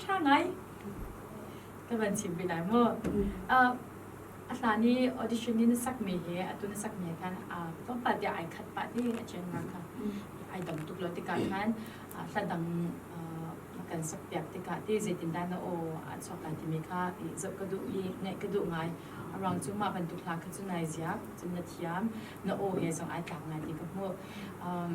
ṭha ngai ka van chim pi lai mu. Uh, a hlan i audition ni na sakmi hi atu na sakmi ah khan uh, tlawmpal tiah ai khat pah ti a chen nga kha ai dam tuk lo tikah khan uh, hladang uh, na kan sakpiak tikah ti zeitin dah na o an soka timi kha i zoh ka duh i ngaih ka duh ngai arang cu mah bantuk hla kha cu nai ziak cun na thiam na o he zong ai tlak ngai ti ka hmuh um,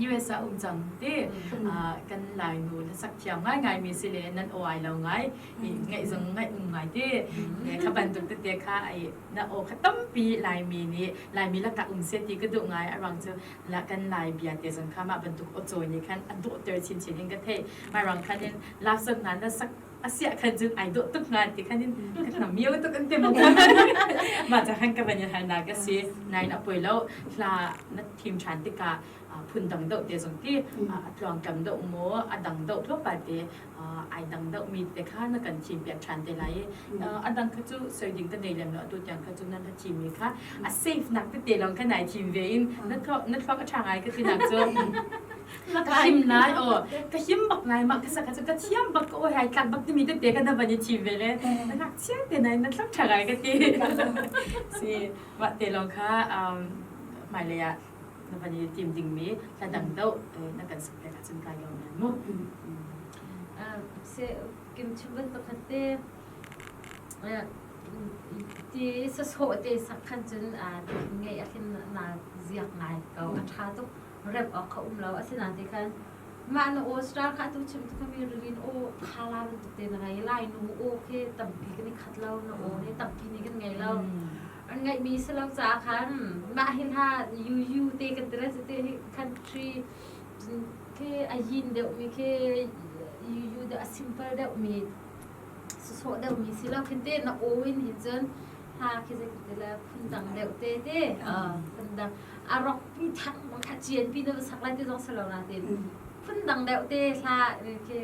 US ah um cang ti kan lainu na sak thiam ngai ngai mi si le nan awai lo ngai ngaih zong ngaih um ngai ti kha bantuk tete kha ai na o kha tampi laimi nih laimi la tak um se ti ka duh ngai arang cu la kan lai bia te zong kha ma bantuk o chawi ni khan a dawh ter chin chin in ka thei mai rang khan in lak zong na na sak asiah khan cun ai dawh tuk hnga ti khan in ka hnam mio tuk an ti mu ma cha khan ka van in harnak ka si nain a poi lo hla na thim than tikah phun dang deuh te zong ti a tluang kam deuh mu a dang deuh thua pa te ai dang deuh mi te kha na kan thim piak than te lai a dang kha cu soi ding ta nei lem lo atu tiang kha cu nan thim mi kha a safe nak te te long kha nai thim ve in na thluak na thluak a tha ngai ka tinak cu ka him nai o ka him bak ngai ma ka saka ka thiam bak o hai tlak bak timi te te ka na bani thi ve le na nak chia te nai na thak thagai ka ti si wa te lo kha um mai le ya na bani team ding mi la dang do na kan sak te ka cun kai lo nan mu se kim chimban pakhat te ti sa so te sak khan cun nge a thin na ziak ngai ko a tha tuk rep awk kha um lo asinain ti khan mah na aw star kha tu chim tu kami rin aw khala bantuk te na ngai lai nu aw khi tampi kan i khat lo na aw hi tampi ni kan ngei lo an ngaih mi si lo ca khan mah hi hla yu yu te kan tira te hi country khi a yin deuh mi khi yu yu de a simple deuh mi so deuh mi si lo khin te na aw in hin cun ha khi zeiti le phundang deuh te te phundang a rok pi thang bang kha chian pi na sak lai te zong salo na te phundang deuh te hla khi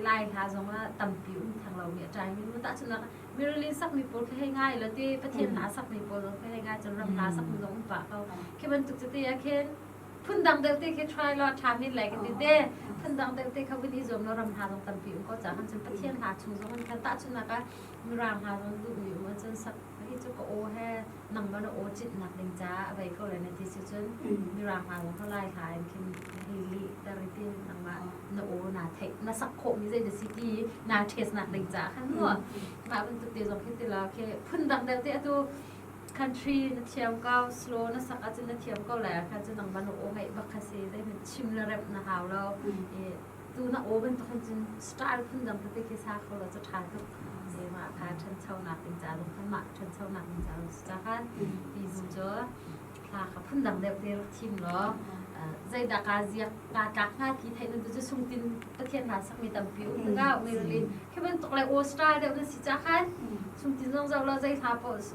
lai hla zong la tampi um thang lo mi trai min ta chuna mi release sak mi pawl khai ngai lo te pathian na sak mi pawl khai ngai chun ram na sak mi zong pa ko khi bantuk te te akhen phundang deuh te khi try lo tha min lai ke te phundang deuh te kha wini zom lo ram na zong tampi um ko cha han chun pathian hla chung zong an ta chuna ka Mirang hna rawn duhmi um ahcun sak hi cu ka aw he nangmah na aw cit nak ding caah a bei ko le na ti si cun mirang hna zong cu lai hla in khin hi li ter i tin nangmah na aw naa theih na sak khawhmi zei na si ti naa test nak ding caah khan mu mah bantuk te zong khi tila khi phun dang dang te atu country na thiam ko slow na sak ahcun na thiam ko lai ah khan cu nangmah na aw ngaih bak kha si zei na chim le remh na hau lo i tu na aw bantuk hin cun star phun dang ka ke sa kho lo cha than tuk se ma kha thancho nak ding ca lo khan ma thancho nak ding ca lo cha khan ti zu cho thla kha phun dang deuh te rak thim lo zai da ka ziak ka tlak nga ki thai nun tu sung tin pathian na sak mi tam pi um ga me ri ke ban tok lai o star deuh na si cha khan sung tin zong zau lo zai thla po